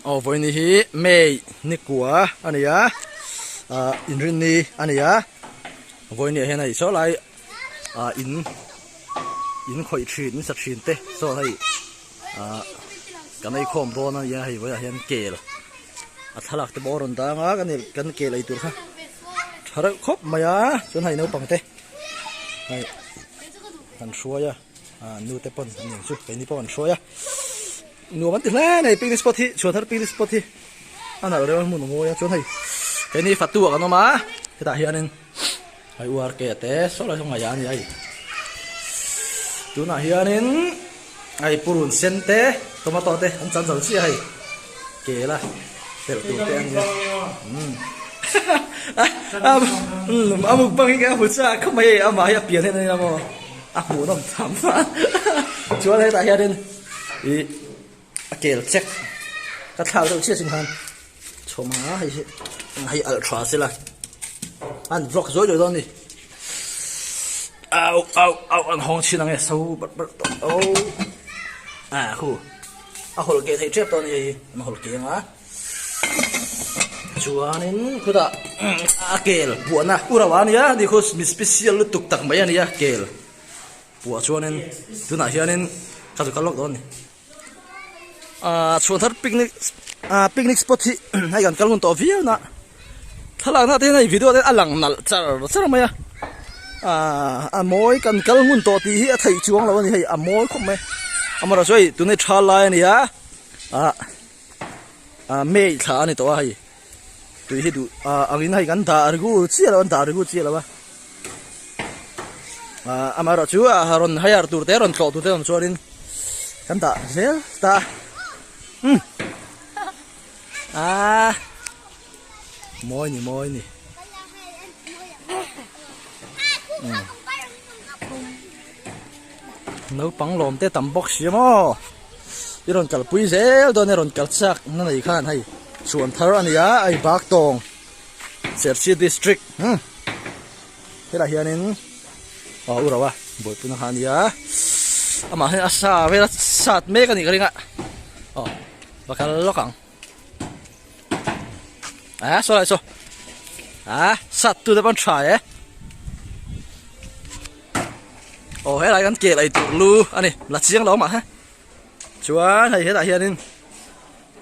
Aw vawini hi May nikua a ni a ah inrinni a ni a vawini ah hian hei saw lai ah in in khawih thin in sa thin te saw hei ah kan ei khawm dawn a nia hei vawiah hian kel a thlalak te pawh a rawn dang a kan kan kel ei tur kha tha reuh khawp mai a chuan hei naupang te hei an hruai a. Ahh nu te pawn an nih ang chu keini pawh an hruai a nuam an ti hle a ni picnic spot hi chhuan har picnic spot hi a nalh reuh a hmun a ngawi a chuan hei keini fatu ah kan awm a hetah hianin hei u ar ke te sawi lai sawi ngaihah a ni a hei tunah hianin hei purun sen te tomato te an chan zal chiah a hei kela telh tur te a ni a umm a mukbang hi ka hmu chuan kha mai e amah hi a pian hian a ni hlawm aw. A hmuh nawm tham a, chuan hetah hianin i a kel chek. Ka thlak deuh chiah chin khan chhawm a, hei hi eng hei alh tha sela, an vlog zawi leh dawn a ni. Au au au an hawng chin ang e, so bar bar tawh, au, a hu, a hawl ke thei tep dawn a ni hei hi, an hawl ke ang a. Chuanin khuta a kel puahna u rauh a nia nikhus mi special lutuk tak mai a nia kel puah chuanin tunah hianin ka zut kal lawk dawn a ni ahh chhuan thar picnic ahh picnic spot hi hei kan kal ngun tawh viau na thlalakna te hian hei video te hian a lang nalh char char mai a ahh a mawi kan kal ngun tawh tih hi a theih chuang lo a ni hei a mawi khawp mai amaherawhchu hei tun hi tha lai a ni a ahh. ah may thla a ni tawh a hei tui hi duh ah ang in hei kan dah rigu chiah lo an dah rigu chiah lo a ah amaherawh chu ah rawn hire tur te rawn tlawh tur te awm chuan in kan dah zel ta um ah mawi ni mawi ni um Naupang lawmte tam bawk si emaw? I rawn kalpui zel dawn i rawn kalchhiak na nei khan hei chhuan thar a nia hei bak tawng Sherchi district hmm helah hianin aw u rauha buaipuna kha a nia amah hian a sa vela sat mek a nih ka ring a aw va kal lawk ang a ah, saw lai saw a ah, sat tu te pawh an tha e eh? Aw helai kan keh laih tur lu a ni la chiang lo mah he chuan hei helah hianin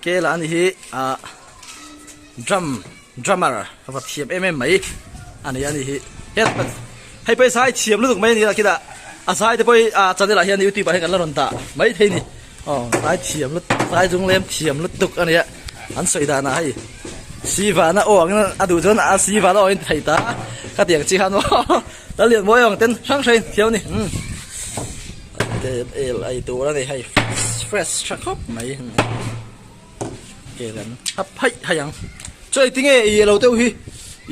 kela a nih hi ah drum drummer ka va thiam em em mai a ni a nih hi het hei pawh hi zai thiam lutuk mai a ni a kinah a zaite pawh hi a chanel ah hian youtube ah hian kan la rawn dah maithei a ni. Aw tlai thiam lutuk tlai dung lem thiam lutuk a nia an sawi dan a hei si vana awk in a duh chuan a si vana awk in thei ta ka tiang chi khan maw ta lian buai ang ten hrang hrang in thiam a ni umm ke el ai tur a ni hei fresh tha khawp mai kel an hap haih haih ang chuan i tinge i alo deuh hi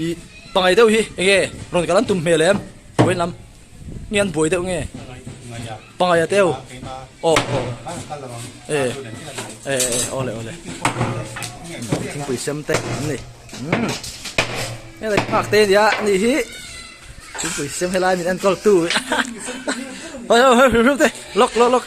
i pangngai deuh hi enge rawn kalan tum hmel em vawiin lam. nge an buai deuh nge pangai a teu aw e e ole ole thingpui sem te an ni e le phak te nia ni hi thingpui sem helai min enkawl tu hoi hoi hoi hrim hrim te lawk lawk lawk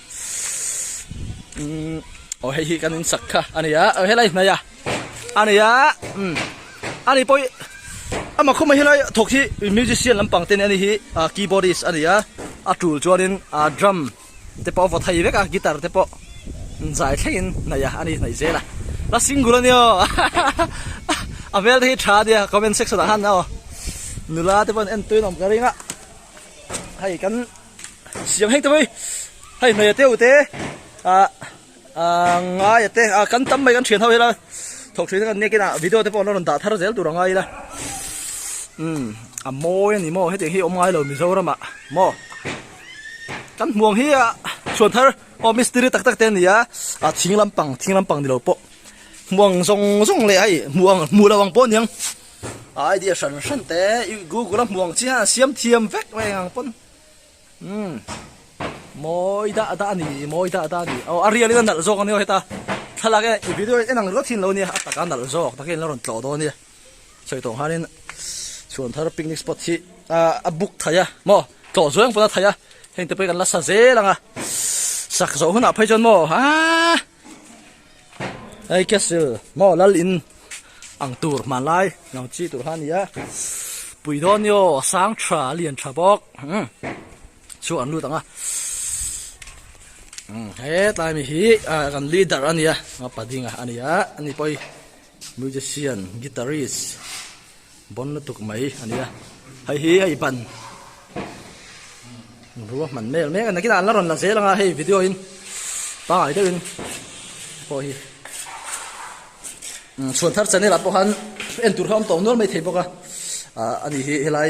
Ssssss aw hei hi kan insak kha a ni a aw helai hnai a a ni a umm a ni pawh hi amah khawp mai helai thawk hi musician lampang te nen a ni hi ah keyboardist a ni a a tul chuanin ah drum te pawh a vaw thai vek a guitar te pawh zai thlengin hnai a a ni hnaih zel a la single a ni aw hahahaha a hmel te hi tha a ni a comment section ah khan aw nula te pawh an en tûn awm ka ring a hei kan-- Siam heng tawih, hei hnawiha te ute, ah, ah, ngaia te, ah, kan tam mai kan thian ho ila, thawk thin kan nek ina, video te pawh an rawn dah thar zel tur a ngai ila. Um, a mawi a ni maw, hetiang hi awm ngai lo Mizoram ah maw. Kan hmuang hi ah, chuan thar, aw mistiri tak tak te a ni a, ah, thing lampang, thing lampang ni lo pawh. Hmuang zawng zawng leh hei, hmuh ang, hmuh lo ang pawh a niang. A idea hran hran te i Google a hmuang chian hian siam thiam vek mai ang pawn. Um. Mawi dah dah a ni, mawi dah dah a ni. Aw, a rialin a nalh zawk a ni aw heta. Thlalak e, i video en ang rilh thin lo nia, a taka nalh zawk takin lo rawn tlawh dawn a nia. Sawi tawh khanin chuan thar picnic spot hi ah a book thei a maw, tlawh zuai ang pawn a thei a. Hengte pawh hi kan la sa zel ang a. Sak zawh hunah phei chuan maw, aa. Hei Castle maw lal in ang tur hman lai lang chi tur kha a ni a pui dawn ni aw a sang tha a lian tha bawk umm chhuak an lut ang a umm hetlai ami hi kan leader a nia pa ding a ni a ni pawh hi. Musician, guitarist, bawn lutuk mai a nia hei hi hei ban rua hman mek mek a nakin an la rawn la zel anga hei video in pangai deuhin pawh hi chhuan thar channel ah pawh khan en tur kha awm tawh nual mai thei bawk a a ni hi helai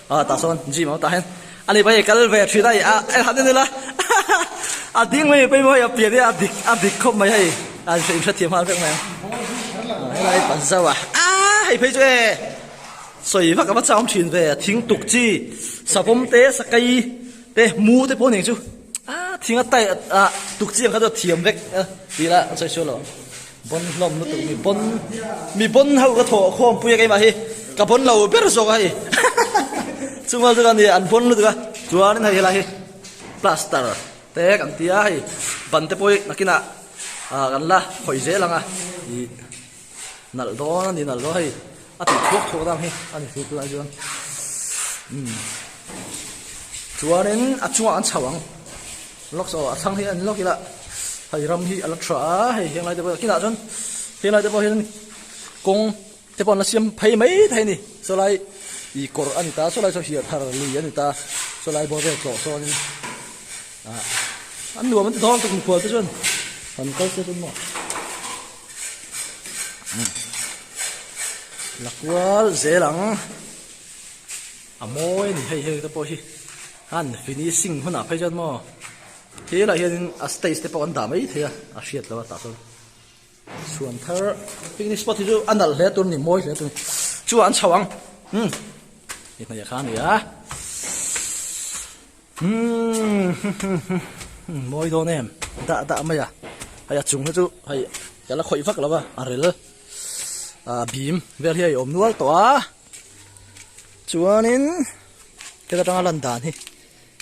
A tah sawn gym a awm tah hian a ni pawhin kal ve a ṭhin a i a han en ila a ding mai pawimawh hei a pian hi a dik a dik khawp mai hei a in hre thiam nghal vek mai ang helai i pat zauh a aah hei phei chu e sawi vak a va châwm ṭhin ve a thing tuk chi savawm te sakai te mu te pawh ning chu aah thing a tyre ah tuk chi ang kha chu a thiam vek a ti ila a sawi sual lo. Bawn hlawm lutuk mi bawn mi bawn ho ka thaw khawm pui a keimah hi ka bawn lo ber zawk a hei chunga chuan ni an bawn lutuk a chuan in hei helai hi plaster te kan tia hei ban te pawh nakin ah ah kan la khawih zel ang a ih nalh dawn a ni nalh dawn hei a tih thuak thuak dang hi a ni chu lai chuan umm chuan in a chungah an chho ang. Locks aw a thlang hi a ni loh kila hei ram hi ala tha a hei henglai te pawh kinah chuan henglai te pawh hian kawng te pawh an la siam phei mai thei a ni saw lai ih kawr a ni ta saw lai saw hiar thar li a ni ta saw lai bawr vel tlawh sawn in ah an nuam an ti dawng tak mikhual te chuan han kal sia chuan maw la kual zel ang. A mawi a ni hei hei te pawh hi han finishing hunah phei chuan maw he lah hian in a stage te pawh an dah mai thei a a hriat lo a tah chuan chhuan thar picnic spot hi chu a nalh hle tur a ni mawi hle tur a ni chungah an chho ang hmm i hnaih a kha a ni a hmm mawi dawn em dah dah mai a hei a chung hi chu hei ka la khawih vak lo a a rel a bim vel hi a awm nual tawh a Chuanin heti atanga a lan dan hi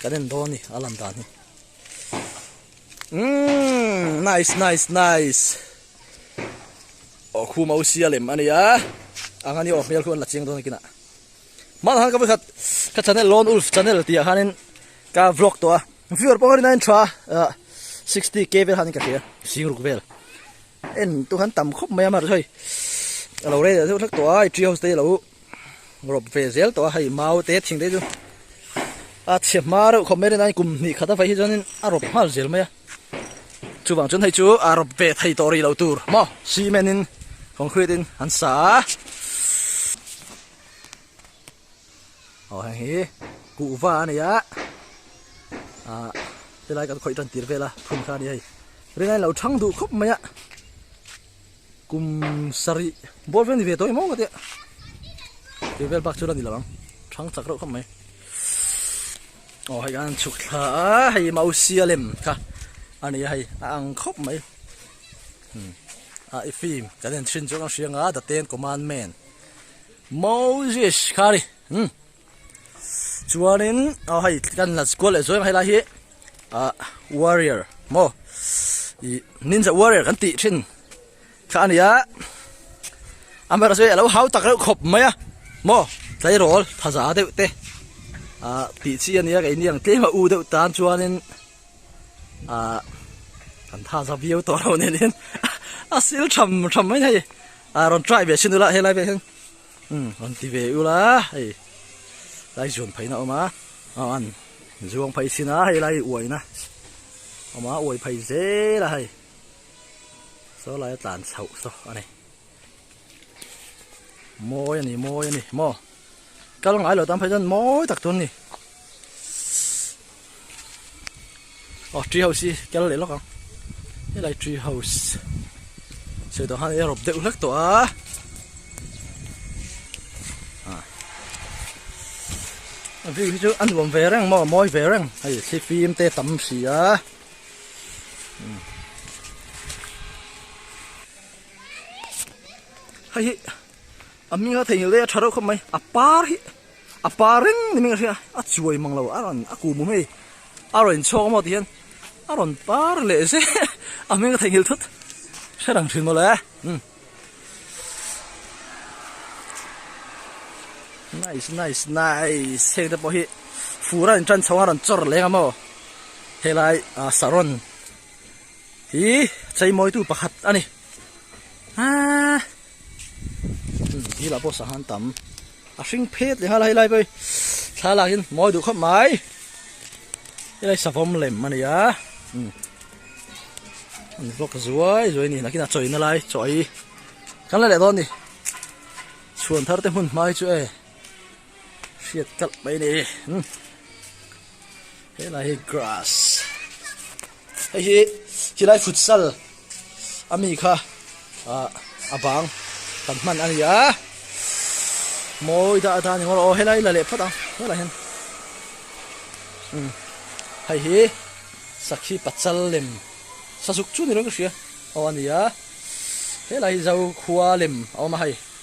kan en dawn a ni a lan dan hi umm nice nice nice aw khu mau sia lem a nia ang ani aw hmel khuan la chiang dawn a kinah hmang han ka va khat ka channel lone wolf channel tih ah khanin ka vlog tawh a Viewer pawng rin ain tha a 60 k vel han ka thia sing ruk vel en tu han tam khop mai amar hoi alo re theu thak to ai tree house te lo rob ve zel to hai mau te thing te chu a che ma reuh khom merin ain kum ni khata vai hi chuanin a rob hmal zel mai a chuvang chun hei chu a rob ve thei to ri lo tur mo cement in concrete in han sa a Aw heng hi kuhva a ni a, ah helai kan khawih tan tir vel a phun kha a ni hei. Rin a inlo thang duh khawp mai a, kum sarih bawr vel a ni ve tawng em aw ka tia, tui vel bak chu la ni lo ang, thang chak reuh khawp mai. Aw hei kan chhuk thla a, hei i mausia lem kha a ni a hei, a ang khawp mai. Hmm, ah i fim kan en thin chu kan hria ang a, the ten commandment. Moses khari hm chuanin a hei kan la squad leh zawng helai hi a warrior mo i ninja warrior kan tih thin kha ania amera chu alo hau tak reuh khawp mai a mo tleirawl thaza deuh te a tih chi ania kan inang tlem a u deuh tan chuanin a kan thaza viau tawh lo nen hian a sîl ṭham ṭham mai a ni. A rawn try ve sin ula helai vekin umm rawn ti ve ula hei lai zuan phaihna awm a aw an zuang phai sin a hei lai uaina awm a uai phai zel a hei saw laia tlan chhoh saw a ni mawi a ni mawi a ni maw. Ka lo ngailo tan phei chuan mawi tak chuan ni aw tree house hi kel leh lawk ang helai tree house sawi tawh han i rop deuh hlek tawh a ah a view hi chu a nuam ve reng maw a mawi ve reng hei thli fim te tam si a umm hei hi A hming a theihngilh daih a tha reuh khawp mai a par hi a par reng ni meng a hria a chuai mang lo a rawn a ku mum hei a rawn inchhawk amaw ti hian a rawn par leh zet a hming a theihngilh thut hre rang thin mawle um nice nice nice heng te pawh hi fur a inṭan chho a a rawn chawr leng amaw helai a saron Hi cheimawitu pakhat a ni. Aa. Hi la pawh sahan tam. A hring phet le hala helai pawh thla lak in mawi duh khawp mai. Helai savom lem a ni a. Um. An vlog zuai zuai ni nakina chawi na lai chawi. Kan la leh dawn ni. Chhuan thar te hmun hmai chu e. hriat kalh mai a ni umm helai hi grass hei hi helai futsal a mi kha ah a bang kan hman a ni a mawi dah atan engmaw aw helai la leh phawt ang helai hian umm hei hi sakhi pachal lem sazuk chu ni loh ang ka hria aw a ni a helai hi zokhua lem a awm a hei.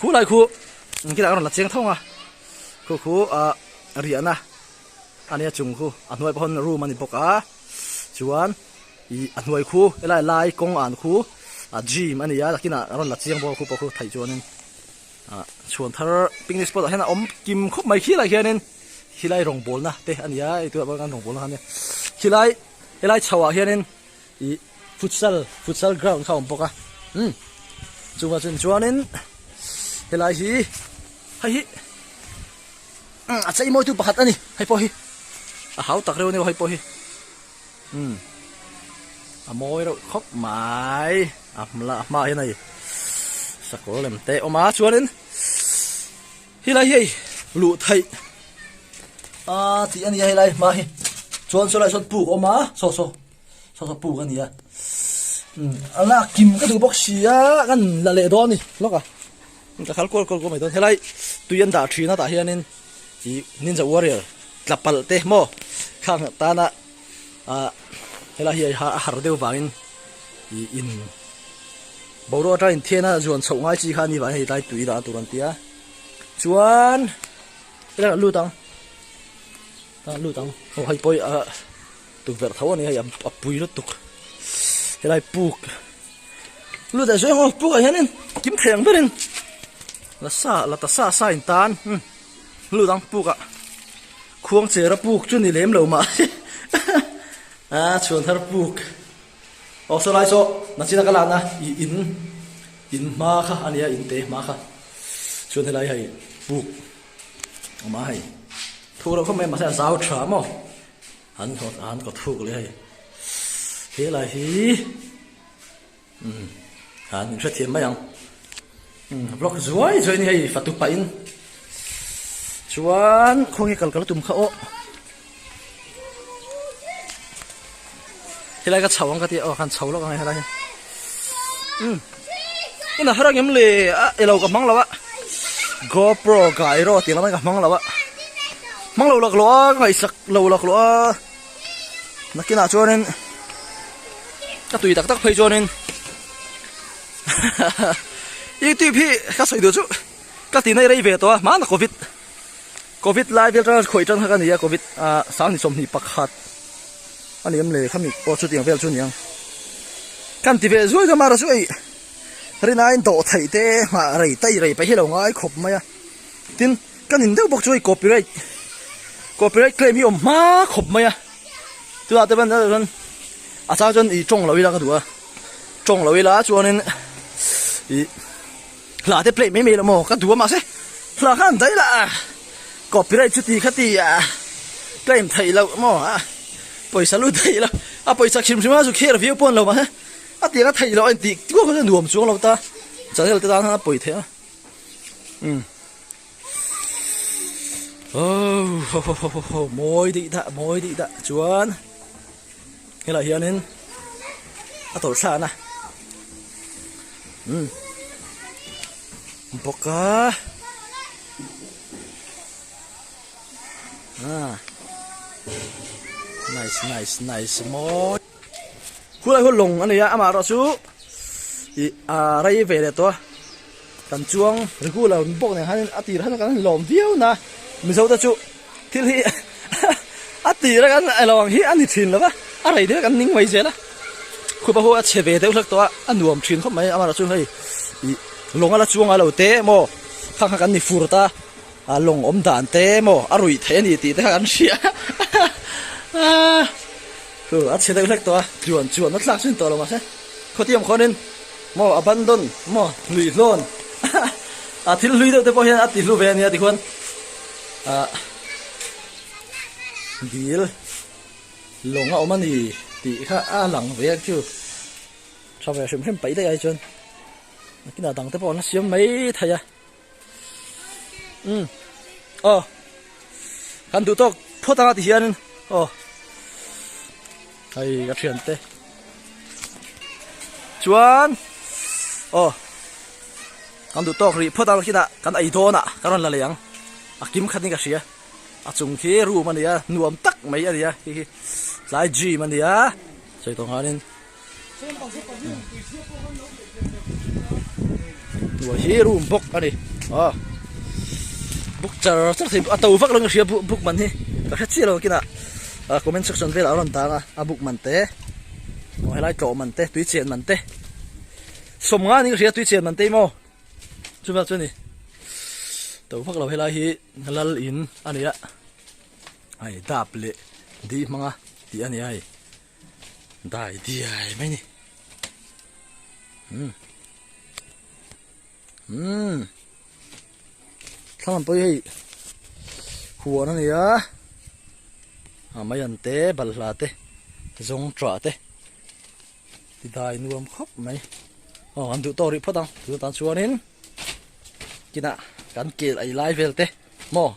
Khu lai khu An kilah ka rawn la cheng thung a Khu khu a riahna a nia chung khu a hnuai pawh hawn room a ni bawk a Chuan ih a hnuai khu helai lai kawng an khu a gym a nia takinah ka rawn la cheng bawk a khu pawh khu theih chuanin ah chhuan thar picnic spot ah hian a awm kim khawp mai khi lai hianin khilai rawngbawlna te a nia eitur ah pawh kan rawngbawlna khan nia khilai helai chhoh ah hianin. ih futsal futsal ground kha a awm bawk a umm chungah chun chuanin helai hi hei hi umm a chei mawitu pakhat a ni hei pawh hi a hau tak reuh a ni hei pawh hi umm a mawi reuh khawp mai a hma a hmaah hian hei sakawr lem te a awm a chuanin helai hi hei luh theih a tih a ni a helai hma hi chuan saw lai sawn puk a awm a saw saw. Saw saw puk a nia. A la kim ka duh bawk sia kan la leh dawn ni hlawk a. Ka khal kual kual kual mai dawn. Helai tui an dah thin a tah hianin i Ninja Warrior tla pal te maw kha ang tana a helai hi a har deuh vangin i in boruak atang in thiana zuan chhoh ngai chi kha ni vangin helai tui dah tur an ti a. Chuan ela lut ang. Ela lut ang. Aw hei pawh hi a tukverh tho ani a hei a pui lutuk helai puk lu deh suaih ngaw pukah hianin kim thleng berin la sa la ta sa sa in tan umm lu dang puka khuang chera puk chu ni lem lo mah hi a chhuan har puk aw saw lai saw nachina ka lakna i in in hma kha ania in te hma kha chuan helai hei puk a hma hei thu reuh khawp mai mahse a zau tha maw Han hawt a han kawt phuk leh a ni. Helai hi han in hrethiam mai ang. Block zuai zuai ni hei fatu pah in. Chuan khawnge kal kal a tum kha awh. Helai ka chho ang ka ti o kan chho lawk ang helai um ina hara ngem le a elo ka mang lawa gopro gai ro ti lama ka mang lawa mang lo lak lo a ngai sak lo lak lo a nakina chuanin ka tui tak tak phei chuanin youtube hi ka sawi du chu ka ti nei rei ve to a mana covid Covid lai vel atanga khawi tanghak a ni a, Covid ah sang ni sawmhnih pakhat a ni awm le khami pawh chuti ang vel chu a ni ang. Kan ti ve zuai ka mara chu ei rinain dawh theih te nghah rei tai rei paih hi lo ngai khawp mai a. Tin kan in deuh bawk chu ei copyright copyright claim hi awm hma khawp mai a, chutah te pawn chuan a chang chuan i tawng lo ila ka duh a, tawng lo ila chuanin ih. Hla te plate mai mai lo maw ka duh a mahse hla khan daih lah a copyright chu ti kha ti a claim theih loh maw a pawisa lut theih lo a pawisa khim hrim a chu kher viau pawn lo mahse a tiang a theih loh a intih duah kha chu nuam chuang lo ta channel te tan khan a pawi theih a um oh ho ho ho ho mawi daih dah mawi daih dah chuan helai hianin a tawlh thlahna um bawk a ah nice nice nice mawi khulai hawlh lawng a ni a amaherawhchu ih a rai ve leh tawh a. Kan chuang regular bawk nen hian a tirah hian kan han lawm viau na Mizo te chu thil hi a tirah kan la lo ang hi a ni thin lo va a rei daih kan ning mai zel a khupa ho a chhe ve deuh hlek tawh a a nuam thin khawp mai amah chu hei ih lawng a la chuang a lo te emaw khang khan kan ni fur ta a lawng awm dan te emaw a ruih theih a ni tih te kha kan hria a chhe deuh hlek tawh a chuan chuan a thlak chin tawh lo mahse khawtiam khawn in Maw abandon maw hluih hlawn a thil hlui deuh te pawh hian a ti hlu ve a nia tichuan ah dil lawng a awm a ni tih kha a lang ve ang chu chhawveh hrim hrim paih daih a hi chuan a kinah dangte pawh an la siam mai thei a. um aw kan duh tawk phawt ang a ti hian in aw hei ka thian te chuan aw kan duh tawk ri phawt ang khi na kan ei dawn a ka rawn la leh ang a kim khat in ka hria a chung khi room a nia nuam tak mai a nia hi hi tlai gym a nia sawi tawh nghal in hnuai hi a rum bawk a ni a book char char thei a to vak lo ang ka hria book man hi ka hre chiah lo ang kinah a comment section velah a rawn tang a a book man te aw helai tlawh man te tui chen man te sawm nga ni ka hria tui chen man te maw chuvak chu ni to vak lo helai hi lal in a ni a ai dap leh dih hmanga tih a ni a hei Dai diai mai ni. Umm. Thlang pawh hei. Huan a nia. A mai an te balhla te. Zawng tra te. Ti dai nuam khawp mai. Aw an duh tawk rih phawt ang. Tun atang chuan in. Kina kan kel ai lai vel te. Maw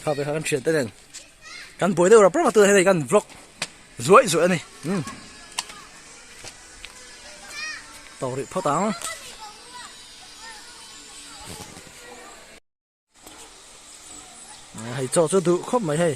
kha ve kha kan thian te nen kan buai deuh rap rap a tunah hian hei kan vlog zuai zuai a ni um tawk rih phawt ang hei chaw chu duh khawp mai hei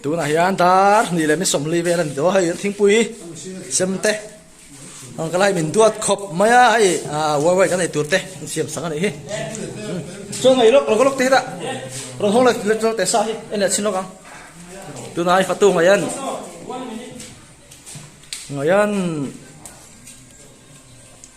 tunah hian dar hnih leh misawmli vel a ni daw a hei thingpui sem te ang kal a hei min duat khawp mai a hei ah wire kan nei tur te an siam sangha nih hi chuan hei lawk lawka lawk te hi dah rawn hawng leh leh tawh teh sa hi en leh chhin lawk ang tunah hei fatu ngaiha nih ngaiha an ni.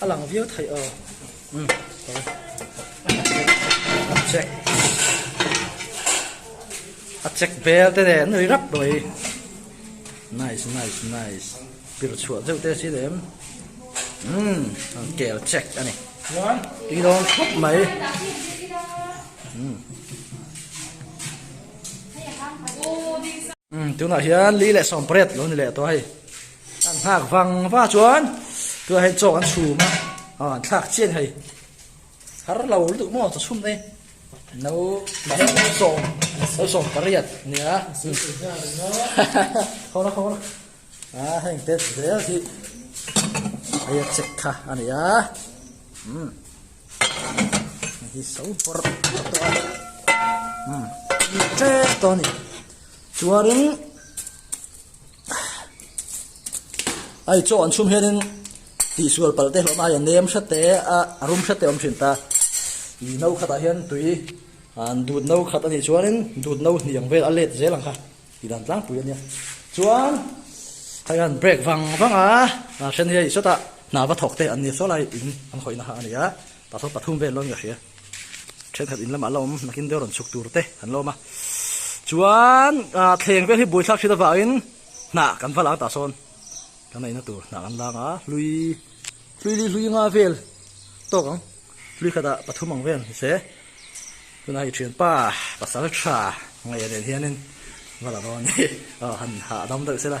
A lang viau thei aw. Um, sorry. Check. A check bel te nen ri rap doi. Nice, nice, nice. Pir chua zeu te si lem. Um, kel check ani. Ti dong khop mai. Um. Um, tuna hian li le som pret lo ni le to hai. An nghak vang va chuan tunah hian chawk an chhum a, aw an thlak chian hei. Har lo lutuk maw chu chhum e. No mah hian lo sawm, lo sawm pariat nia. Kho la kho la. A heng te zel hi hei a chek kha a ni a. Um. Hi so bawr tawh a. Um. Che tawh a ni. Chuan in ai chaw an chhum hianin tih sual palte hlawhna aia nem hre te a a rum hre te awm thin ta i no khatah hian tui an dut no khat a nih chuanin dut no hniang vel a let zel ang kha i dan tlangpui a nia chuan hei hian brake vang vang a a then hi a isawt a hnah va thawk te an ni saw lai in an hawi nahah a ni a. Tah saw pathum vel lawm ka hria. Thenkhat in lamah la awm nakin deuh rawn chhuk tur te an la awm a. Chuan ah thleng vel hi buai thlak ṭhin avangin hnah kan va lang tah sawn ka neihna tur hnah kan lang a. Hlui hlui li hlui nga vel tawk ang. Hlui khat ah pathum ang vel ni se. Tunah hi ṭhianpa Pasalṭha ngaih a nen hianin va la dawn a ni. Aw han hah dam deuh sela.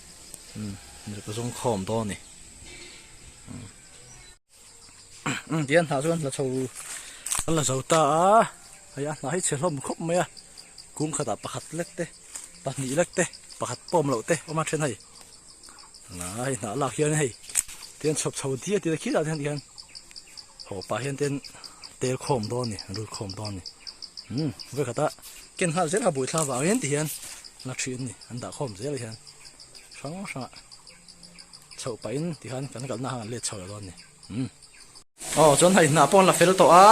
ka zawng khawm dawn ni ti an hnah chu an la chho an la zo ta a hei a hnah hi che hlawm khawp mai a kung khatah pakhat lek te pahnih lek te pakhat pawm loh te awm a then hei hei hnah lak hian hei ti an chhawp chho diai diai khil ah hian haw pah hian ti an tel khawm dawn a ni ril khawm dawn a ni vawikhatah. Ken nghal zel habuai thla vang hian ti hian na thin ni an dah khawm zel hian hrang hrang ah chhoh pah in ti hian kan kalna han let chho lo dawn ni umm aw chuan hei hnah pawh an la fel tawh a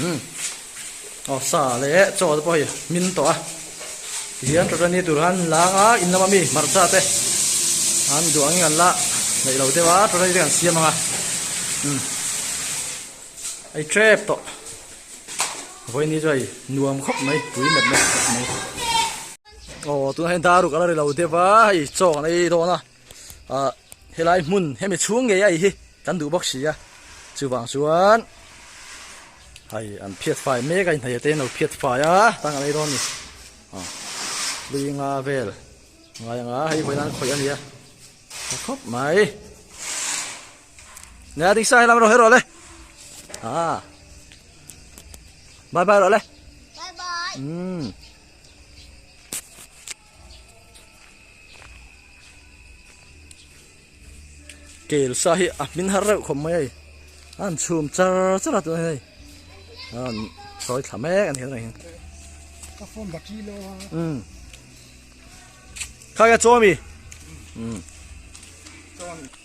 umm aw sa leh chaw te pawh hei min tawh a ti hian tata ni tur han la ang a in lama mi hmarcha te an duang in an la neih lo deuh a tata ni te kan siam ang a umm. Hei trap tawh vawiini chu hei nuam khawp mai tui met na khawp mai aw tunah hian daru ka la ri lo deuh a hei chaw kan ei dawn a ah helai hmun hemi chhung nge a hi kan duh bawk si a chuvang chuan hei an phiat fai mek a inhnaih te an lo phiat fai a tan kan ei dawn a ni aw hlui nga vel ngai anga hei vawiin an khawih a nia hre khawp mai. Nè a ding sa hian lam rawh he rawh le. Ah. Bye bye rawh le. Bye bye. Hmm. Kel sa hi a min har reuh khom mai ai. An chum char char a tu hei. An soi thla mek an hian reng hian. Ka phone battery lo a. Hmm. Kha ya chomi. Hmm. Chomi.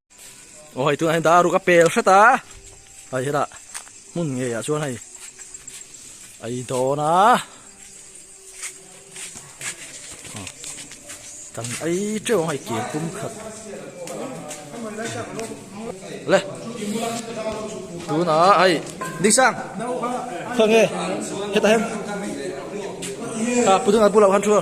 Aw hei tunah hian dah a ruk a pel hret a, hei hi lah hmun ngeiah chuan hei a i dawn a, kan ai teuh ang hei ken pum khat, le tunah hei Diksang khawnge hetah hian aa pu dun a pu loh khan thu a.